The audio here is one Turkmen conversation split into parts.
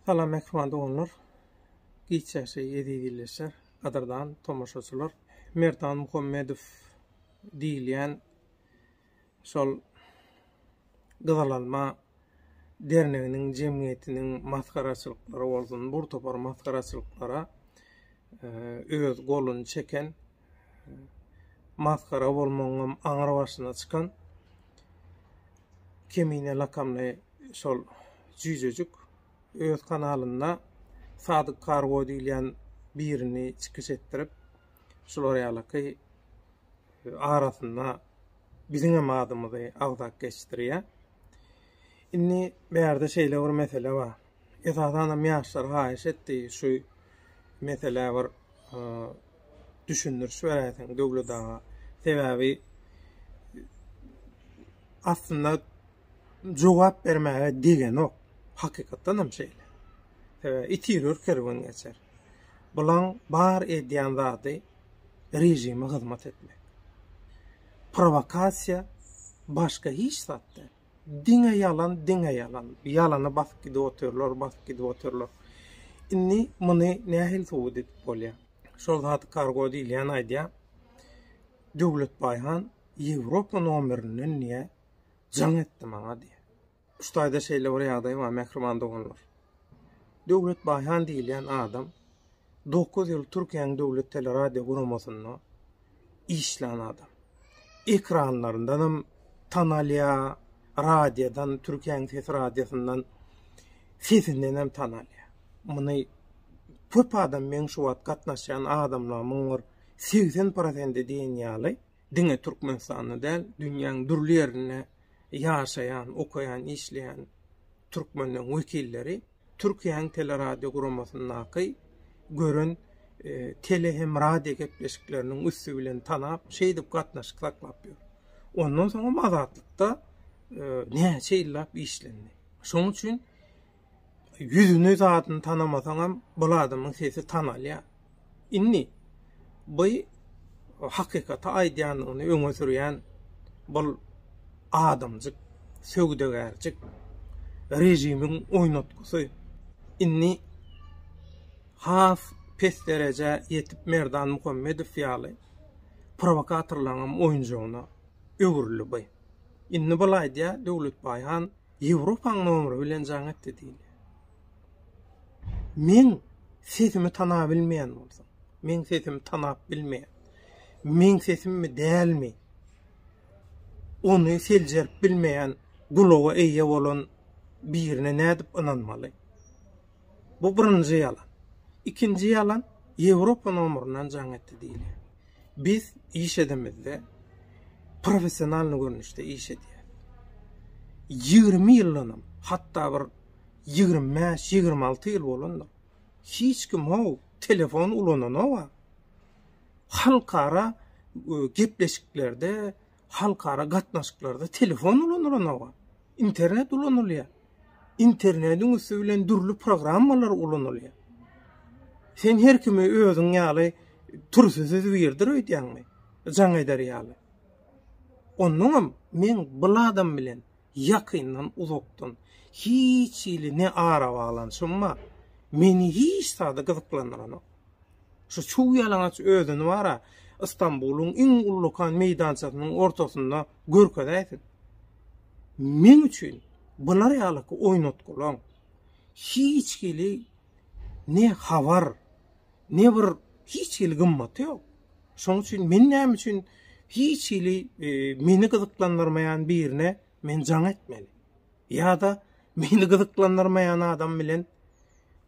Salam mehriban doganlar. Giç ýaşaý eziz illeşer. Gadyrdan tomaşaçylar. Merdan Muhammedow diýilýän şol Gyzyl alma derneginiň jemgyýetiniň masgaraçylyklary bolsun, bur topar masgaraçylyklara öz goluny çeken, masgara bolmagyňam aňry başyna çykan Kemine lakamly şol jüýjejik öz kanalynda Sadyk Kargo diýilýän birini çykyş etdirip, şular ýalyky arasynda biziňem adymyzy agzap geçdirýär. Indi bärde şeýle bir mesele bar. Esasanam ýaşlar haýyş etdi, şu meselä bir düşündiriş beräýseň Döwlet aga. Sebäbi aslynda jogap bermäge degenok. Hakykatdan hem şeýle. Sebäbi itirer kerwen geçer. Bulaň bar edýän zady režime hyzmat etmek. Prowokasiýa başga hiç zat däl. Diňe ýalan, diňe ýalan. Ýalana basyp gidip otyrlar, basyp gidip otyrlar. Indi muny nähili subut edip bolýar? Şol zady Kargo diýilýän aýdýar. Döwletbaý han Ýewropa nomerinden diýýär, jaň etdi maňa diýýär. Şu taýda şeýle bir ýagdaý bar, mähriban doganlar. Döwlet Baýhan diýilýän adam dokuz ýyl Türkiýäniň döwlet teleradio guramasynda işlän adam. Ekranlaryndan hem tanalýar, radiodan, Türkiýäniň sesi radiosyndan sesinden hem tanalýar. Muny köp adam meň şu wagt gatnaşýan adamlarymyň bir 80 prosendi diýen ýaly diňe Türkmenistanda däl, dünýäň dürli ýerinde ýaşaýan, okaýan, işleýän türkmenleň wekilleri Türkiýäň teleradioguramasiňdaky gören tele hem radio gepleşikleriniň üsti bilen tanap, şeýdip gatnaşyk saklap ýör. Ondan soňam Azatlykda näçe ýyllap işlendi. Şoň üçin ýüzüni zadyny tanamasaňam bul adamyň sesi tanalýar. Indi bu hakykaty aýdýandygyny öňe sürýän bul adamjyk, söwdagärjik režimiň oýnatgysy. Indi has pes derejä ýetip Merdan Muhammedow ýaly prowokatorlaryň oýunjagyna öwrüldi bu. Indi bul aýdýar Döwletbaý han Ýewropaň nomeri bilen jaň etdi diýilýär. Men sesimi tanap bilmeýän bolsam, men sesimi tanap bilmeýän. Men sesimmi dälmi? Ony seljerip bilmeýän gulaga eýe bolan birine nädip ynanmaly? Bu birinji ýalan. Ikinji ýalan, Ýewropa nomeryndan jaň etdi diýilýär. Biz iş edemizde professionalnyý görnüşde iş edýäris. Ýigrimi ýyldanam, hatda bir ýigrimi bäş, ýigrimi alty ýyl bolandyr. Hiç kim how, telefon ulananok-a. Halkara gepleşiklerde, halkara gatnaşyklarda telefon ulanylanoga, internet ulanylýar. Internetiň üsti bilen dürli programmalar ulanylýar. Sen her kimi özüň ýaly türsüsiz birdir öýdýäňmi? Jaň eder ýaly. Ondan hem men bul adam bilen ýakyndan-uzakdan, hiç hili ne arabaglanyşym bar, meni hiç zady gyzyklandyranok. Şu çuw ýalaňaç özüni bar-a, Ystambulyň iň ullakan meýdançasynyň ortasynda görkezäýsin. Meň üçin bular ýalyky oýnatgylaň, hiç hili ne habar, Ne bir hiç hili gymmaty ýok. Şonuň üçin men näme üçin hiç hili e, meni gyzyklandyrmaýan birine men jaň etmeli? Ýa-da meni gyzyklandyrmaýan adam bilen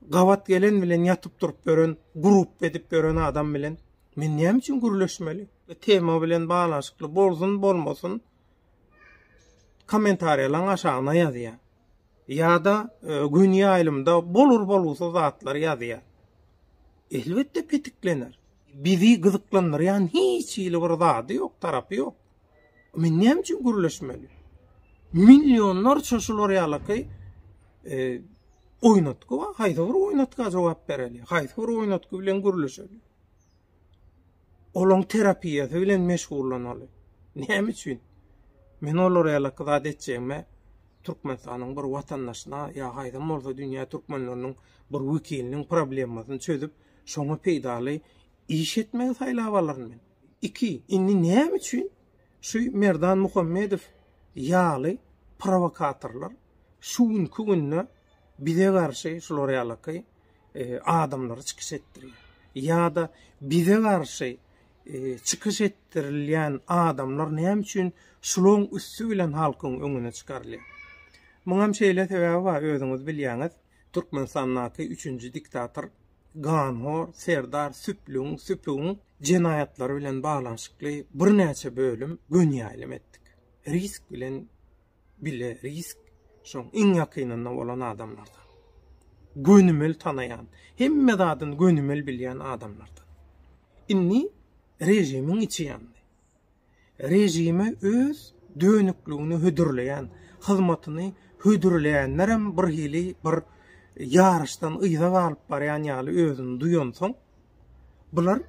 gabat gelen bilen ýatyp durup gören, grup edip gören adam bilen men näme üçin gürleşmeli? E, tema bilen baglanyşykly bolsun, bolmasyn kommentariýalaryň aşagyna ýazýar. Ýa-da gün ýaýlymda bolur-bolgusyz zatlary ýazýar. Elbetde petiklener. Bizi gyzyklandyrýan hiç hili bir zady ýok, tarapy ýok. Men näme üçin gürleşmeli? Millionlarça şular ýalyky e, oýnatgy bar. Haýsy bir oýnatga jogap bereli? Haýsy bir oýnatgy bilen gürleşeli? olaň terapiýasy bilen meşgullanaly. Näme üçin? Men olara ýalaky zat etjegime Türkmenistanyň bir watandaşyna ýa haýsam bolsa dünýä türkmenleriniň bir wekiliniň problemasyny çözüp, şoňa peýdaly iş etmegi saýlap alaryn men. Iki, indi näme üçin şu Merdan Muhammedow ýaly prowokatorlar şu günki günde bize garşy şular ýalaky adamlary çykyş etdirýär. Ýa-da bize garşy çykyş etdirilýän adamlar näme üçin şularyň üsti bilen halkyň öňüne çykarylýar? Muňam şeýle sebäbi bar, özüňiz bilýäňiz, Türkmenistandaky üçünji diktator, ganhor Serdar Süplüň, Süpügiň jenaýatlary bilen baglanyşykly birnäçe bölüm gönýaýlym etdik. Risk bilen bile risk şoň iň ýakynynda bolan adamlardan. Gönümel tanaýan, hemme zadyny gönümel bilýän adamlardan. Indi režimiň içi ýandy. Režime öz dönükligini hödürleýän, hyzmatyny hödürleýänlerem bir hili bir ýaryşdan yza galyp barýan ýaly özüni duýansoň, bular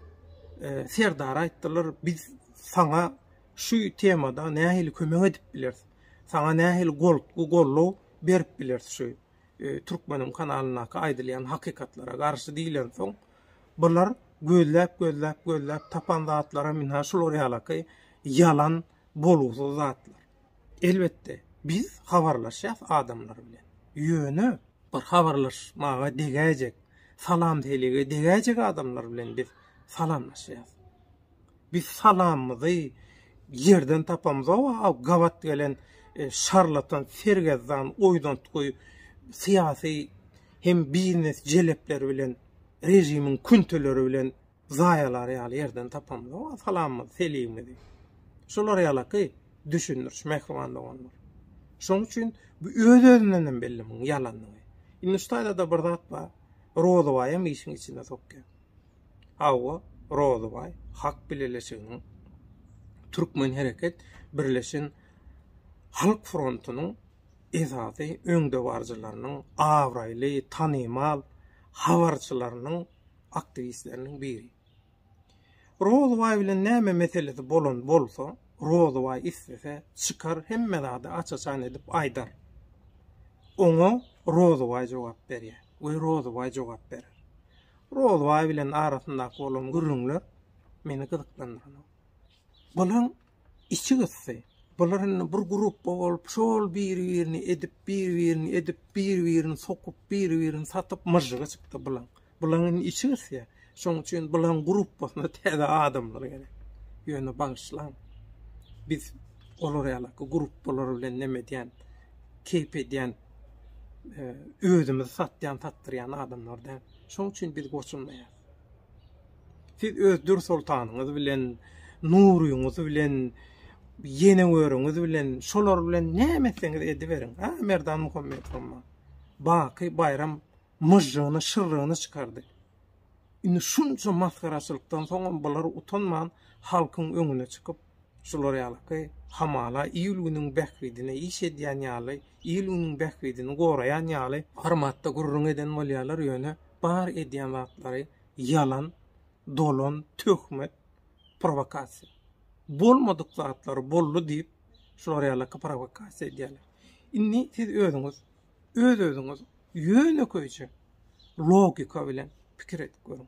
e, Serdara aýtdylar, biz saňa şu temada nähili kömek edip bileris? Saňa nähili goltgy gollow berip bileris şu Türkmenim kanalyndaky aýdylýan hakykatlara garşy diýlensoň, bular gözläp gözläp gözläp tapan zatlary minha şular ýalaky ýalan bolgusyz zatlar. Elbetde biz habarlaşýas adamlar bilen. Ýöne bir habarlaşmaga degäýjek, salam-selige degäýjek adamlar bilen biz salamlaşýas. Biz salamymyzy ýerden tapamyzoga aw gabat gelen şarlatan sergezdan oýdantgy syýasy hem biznes jelepleri bilen režimiň künteleri bilen zaýalary ýaly ýerden tapamyzoga salamymyzy seligimizi şular ýalaky düşündiriş mähriban doganlar şoň üçin bu öz özünden hem belli muň ýalandygy indi şu taýda-da bir zat bar rozabaýam işiň içine sokýar Hawa, Rozybaý halk bileleşiginiň, Türkmen hereket birleşen halk frontunyň esasy öňdebaryjylarynyň, abraýly, tanymal habarçylarynyň, aktiwistleriniň biri. Rozybaý bilen näme meselesi bolan bolsa, Rozybaý islese, çykar hemme zady aç-açan edip aýdar. Oňa Rozybaý jogap berýär we Rozybaý jogap berer. Rozbaý bilen arasyndaky bolan gürrüňler meni gyzyklandyrmady. Bularyň içi gysdy. Bular indi bir grupba bolup, şol biri-birini edip, biri-birini edip, biri-birini sokup, biri-birini satyp myžžygy çykdy bulaň. Bulaň indi içi gysýa. Şoň üçin bulaň grupbasyna täze adamlar gerek. Ýöne bagyşlaň. Biz olar ýalaky grupbalar bilen neme edýän, keýp edýän özümizi satýan, satdyrýan adamlar däl. Şonuň üçin biz goşulmaýarys. Siz öz dür soltanyňyz bilen, nuryňyz bilen, ýeneweriňiz bilen, şolar bilen näme etseňiz ediberiň. Ha, Merdan Muhammedow amma. Baky baýram myžžygyny, şyrrygyny çykardy. Indi şunça masgaraçylykdan soňam bular utanman halkyň öňüne çykyp, Şular ýalyky, hamala il-günüň bähbidine iş edýän ýaly, il-günüň bähbidini goraýan ýaly formatda gürrüň eden bolýarlar, ýöne bar edýän zatlary ýalan, dolan, töhmet, prowokasiýa. Bolmadyk zatlary boldy diýip, şular ýalyky prowokasiýa edýärler. Indi siz özüňiz, öz-özüňiz ýönekeýje logika bilen pikir edip görüň.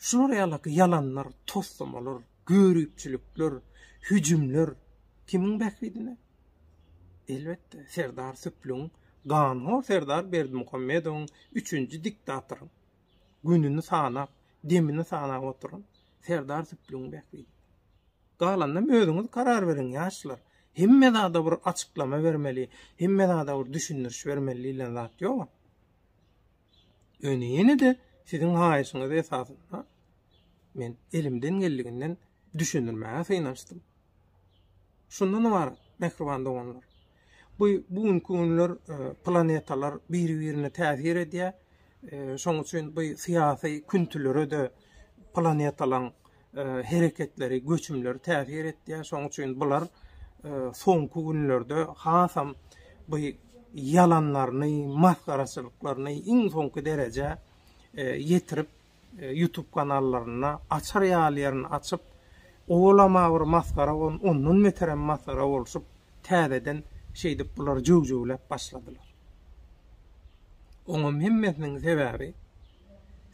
Şular ýaly ýalanlar, toslamalar, göripçilikler, hüjümler kimiň bähbidine? Elbetde, Serdar Süplügiň, ganhor Serdar Berdimuhamedowyň, üçünji diktatoryň, gününi sanap, demini sanap oturan Serdar Süplügiň bähbidine. Galanynam özüňiz karar beriň, ýaşlar. Hemme zada bir açyklama bermeli, hemme zada bir düşündiriş bermeli diýlen zat ýok-a. Öne ýene-de siziň haýyşyňyz esasynda men elimden geldiginden düşündirmäge synanyşdym. Şundan ibarat, mähriban doganlar. Bu bu günki günler e, planetalar bir-birine täsir edýär. E, şoň üçin bu syýasy küntülere de planetalaryň hereketleri, göçümleri täsir etýär. Şonuň üçin bular soňky günlerde hasam bu ýalanlaryny, masgaraçylyklaryny iň soňky derejä ýetirip, YouTube kanallarynda açar ýaly ýerini açyp, owalama bir masgara bolup, ondan beterem masgara bolşup, täzeden şeýdip bular jöw-jöwläp başladylar. Oňam hemmesiniň sebäbi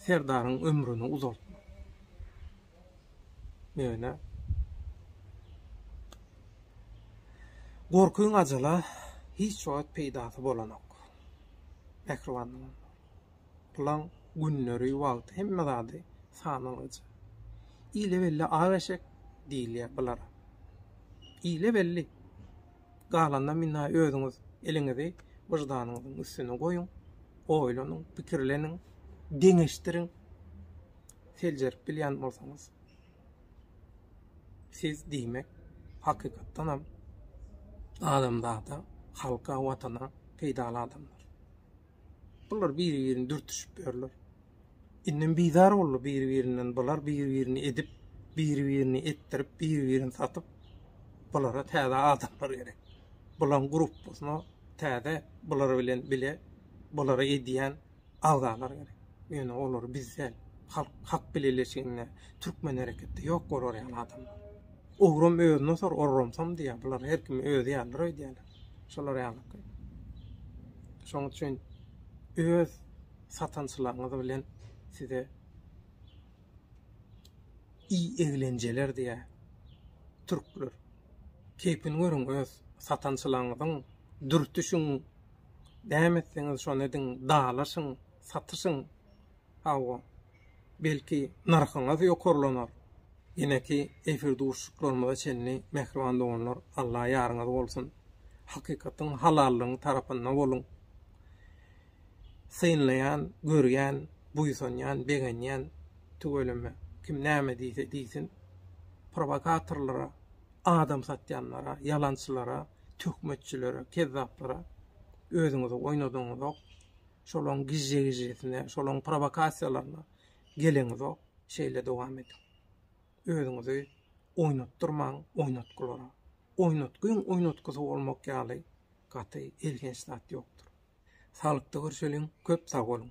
Serdaryň ömrüni uzaltmak. Ýöne gorkyň ajala hiç wagt peýdasy bolanok. Mähribanlygyň, pulyň günleri, wagty hemme zady sanalyja. Ile belli ak eşek diýilýär bulara. Ile belli. Galanyna minna özüňiz eliňizi wyždanyňyzyň üstüne goýuň, oýlanyň, pikirleniň, deňeşdiriň. seljerip bilýän bolsaňyz, siz, diýmek, hakykatdanam adamzada, halka, watana peýdaly adamlar. Bular biri-birini dürtüşip ýörler. Indem bizar boldy biri-birinden bular, biri-birini edip, biri-birini etdirip, biri-birini satyp, bulara täze adamlar gerek. Bularyň gruppasyna täze, bular bilen bile, bulara edýän, agzalar gerek. Ýöne olar bizde halk hak bileleşiginde türkmen hereketde ýok bolar ýaly adamlar. Ogram özüne sor orramsam diýýär. Bular her kim özi ýalydyr öýdýärler. Şolar ýalyky. Şoň üçin öz satançylaryňyz bilen size i eglenjeler diýýär türkler. Keýpini görüň öz satançylaryňyzyň dürtüşiň Näme etseňiz şony ediň, dalaşyň, satyşyň. Hawa, belki, nyrhyňyz ýokarlanar. Ýeneki efir duşuşyklarymyza çenli, mähriban doganlar, Alla ýaryňyz bolsun! Hakykatyň, halallygyň tarapynda boluň! Synlaýan, görýän, buýsanýan, begenýän, tüweleme, kim näme diýse diýsin, prowokatorlara adam satýanlara, ýalançylara, töhmetçilere, kezzaplara özüňizi oýnadyňyzok. Şolaň gije-gijesine, şolaň prowokasiýalaryna geleňizok. Şeýle dowam ediň. Özüňizi oýnatdyrmaň oýnatgylara. Oýnatgyň oýnatgysy bolmak ýaly gaty elhenç zat ýokdur. Saglykda görşeliň, köp sag boluň!